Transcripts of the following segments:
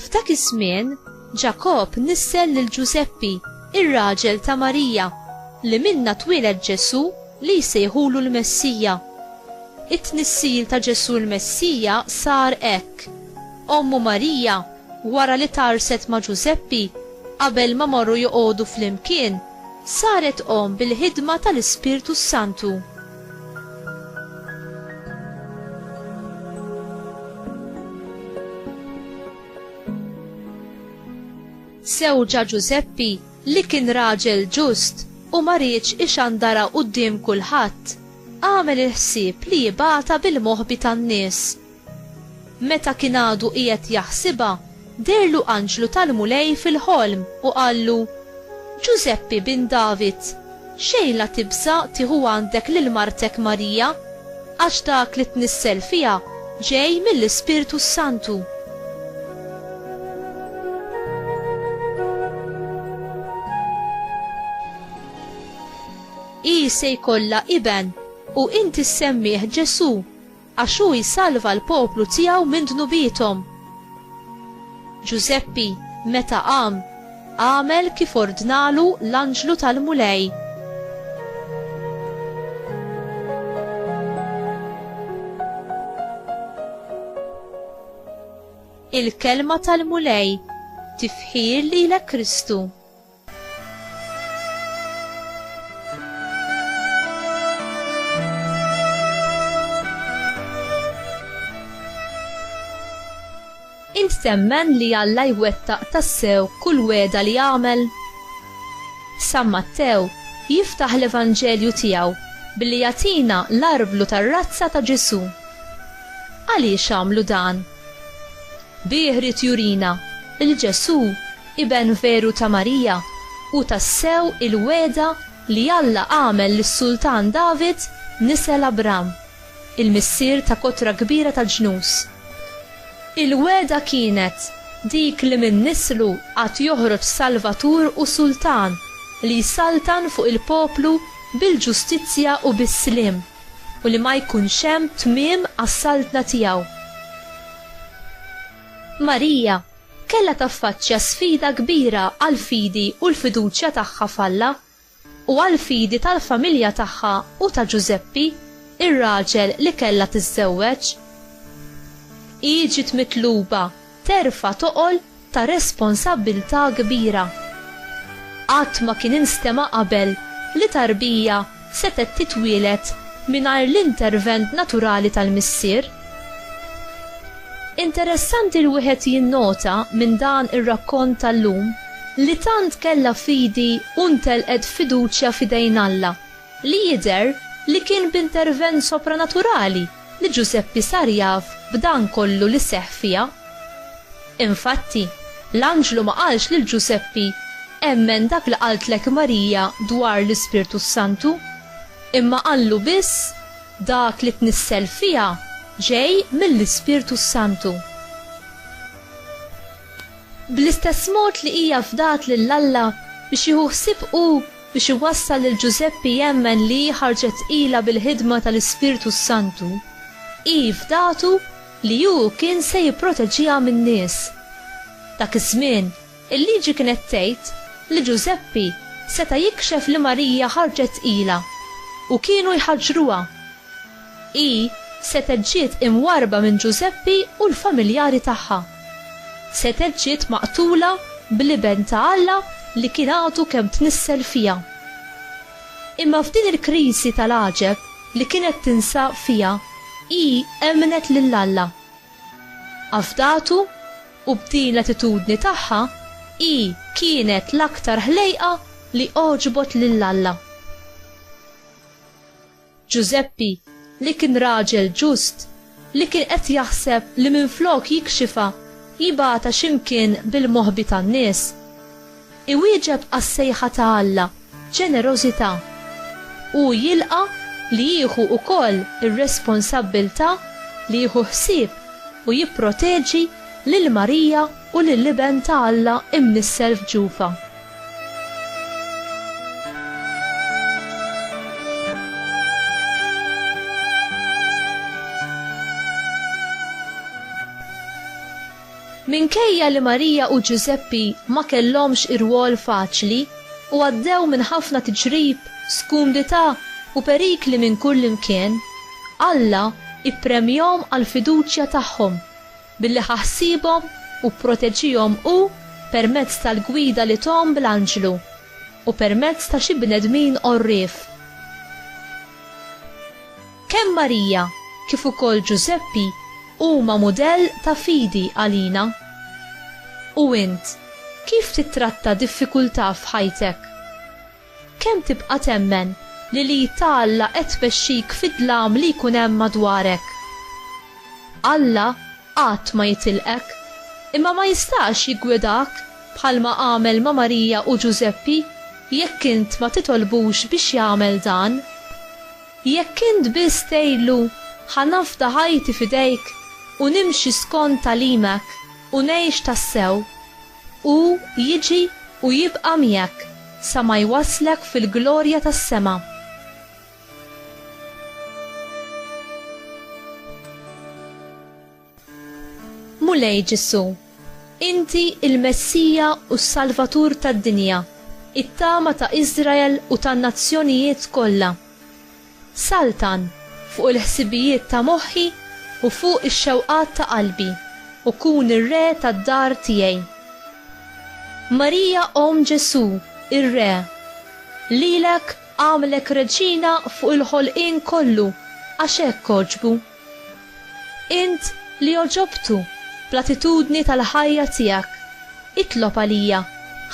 F'dak iż-żmien, Ġakob nissel lil Ġużeppi, ir-raġel ta' Marija, li minna twieled Ġesù li jsejħulu l-Messija. It-tnissil ta' Ġesù l-Messija sar hekk. Ommu Marija Wara li tgħarrset ma' Ġużeppi, qabel ma morru joqogħdu flimkien, saret omm bil-ħidma tal-Ispirtu s-Santu. Żewġha Ġużeppi, li kien raġel ġust u ma riedx ixandarha quddiem kulħadd, għamel il-ħsieb li jibgħatha bil-moħbi tan-nies Meta kien għadu qiegħed jaħsibha, deherlu anġlu tal-Mulej fil-ħolm u qallu, Ġużeppi bin David, xejn la tibża' tieħu għandek lil martek Marija, għax dak li tnissel fiha ġej mill-Ispirtu s-Santu. Hi se jkollha iben, u inti ssemmih Ġesù, Għax hu jsalva l-poplu tiegħu minn dnubiethom. Ġużeppi, meta qam, għamel kif ordnalu l-anġlu tal-Mulej. Il-Kelma tal-Mulej, Tifħir lilek Kristu! Int temmen li Alla jwettaq tassew kull wegħda li għamel? San Mattew jiftaħ l-Evanġelju tiegħu billi jagħtina l-arblu tar-razza ta' Ġesù. Għaliex għamlu dan? Bih ried jurina li Ġesù Iben veru ta' Marija, hu tassew il-wegħda li Alla għamel lis-Sultan David nisel Abram, il-missier ta' kotra kbira ta' ġnus. Il-wegħda kienet dik li minn nislu għad joħroġ Salvatur u Sultan li jsaltan fuq il-poplu bil-ġustizzja u bis-sliem, u li ma jkunx hemm tmiem għas-saltna tiegħu. Marija, kellha taffaċċja sfida kbira għall-fidi u l-fiduċja tagħha f'Alla, u għall-fidi tal-familja tagħha u ta' Ġużeppi, ir-raġel li kellha tiżżewweġ. Hi ġiet mitluba terfa' toqol ta' responsabbiltà kbira. Qatt ma kien instema' qabel li tarbija setgħet titwieled mingħajr l-intervent naturali tal-missier? Interessanti li wieħed jinnota minn dan ir-rakkont tal-lum li tant kellha fidi u ntelqet fiduċja f'idejn Alla, li jidher li kien b'intervent sopranaturali, li Ġużeppi sar jaf b'dan kollu li seħħ fiha. Infatti, l-anġlu ma qalx lil Ġużeppi, Emmen dak li qaltlek Marija dwar l-Ispirtu s-Santu, imma qallu biss, Dak li tnissel fiha ġej mill-Ispirtu s-Santu. Bl-istess mod li hija fdat lil Alla biex jieħu ħsieb hu biex iwassal lil Ġużeppi jemmen li hi ħarġet tqila bil-ħidma tal-Ispirtu s-Santu, hi fdatu li hu kien se jipproteġiha min-nies. Dak iż-żmien, il-Liġi kienet tgħid li Ġużeppi seta' jikxef li Marija ħarġet tqila, u kienu jħaġġruha. Hi setgħet ġiet imwarrba minn Ġużeppi u l-familjari tagħha. Setgħet ġiet maqtula bl-Iben ta' Alla li kien għadu kemm tnissel fiha. Imma f'din il-kriżi tal-għaġeb li kienet tinsab fiha hi emmnet lil Alla. Afdatu u b'din l-attitudni tagħha hi kienet l-aktar ħlejqa li għoġbot lil Alla. Ġużeppi, li kien raġel ġust, li kien qed jaħseb li minflok jikxifha, jibgħatha xi mkien bil-moħbi tan-nies. Iwieġeb għas-sejħa ta' Alla b'ġenerożità. Hu jilqa' li jieħu wkoll ir-responsabbiltà li jieħu ħsieb u jipproteġi lil Marija u lill-Iben ta' Alla imnissel f'ġufha. Minkejja li Marija u Ġużeppi ma kellhomx irwol faċli u għaddew minn ħafna tiġrib, skumdità u perikli minn kullimkien, Alla ppremjahom għall-fiduċja tagħhom. Billi ħa ħsiebhom u pproteġihom Hu permezz tal-gwida li thom bl-anġlu u permezz ta' xi bnedmin għorrief. Kemm Marija kif ukoll Ġużeppi huma mudell ta' fidi għalina. U int, kif tittratta diffikultà f'ħajtek? Kemm tibqa' temmen li l-id ta' Alla qed tmexxik fid-dlam li jkun hemm madwarek? Alla qatt ma jitilqek, imma ma jistax jiggwidak bħalma għamel ma' Marija u Ġużeppi jekk int ma titolbux biex jagħmel dan. Jekk int biss tgħidlu, Ħa nafda ħajti f'idejk u nimxi skont tagħlimek u ngħix tassew, Hu jiġi u jibqa' miegħek sa ma jwasslek fil-glorja tas-sema. Mulej Ġesù, inti l-Messija u s-Salvatur tad-dinja, it-tama ta' Iżrael u tan-nazzjonijiet kollha. Saltan fuq il-ħsibijiet ta' moħħi u fuq ix-xewqat ta' qalbi, u kun ir-re tad-dar tiegħi. Marija Omm Ġesù, ir-Re, lilek għamlek Reġina fuq il-ħolqien kollu għax hekk għoġbu. Int li għoġobtu bl-attitudni tal-ħajja tiegħek, itlob għalija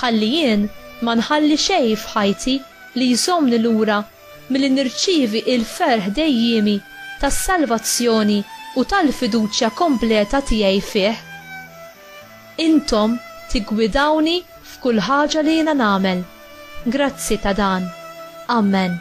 ħalli jien ma nħalli xejn f'ħajti li jżommni lura milli nirċievi l-ferħ dejjiemi tas-salvazzjoni u tal-fiduċja kompleta tiegħi fih. Intom tiggwidawni f'kull ħaġa li jiena nagħmel. Grazzi ta' dan. Amen.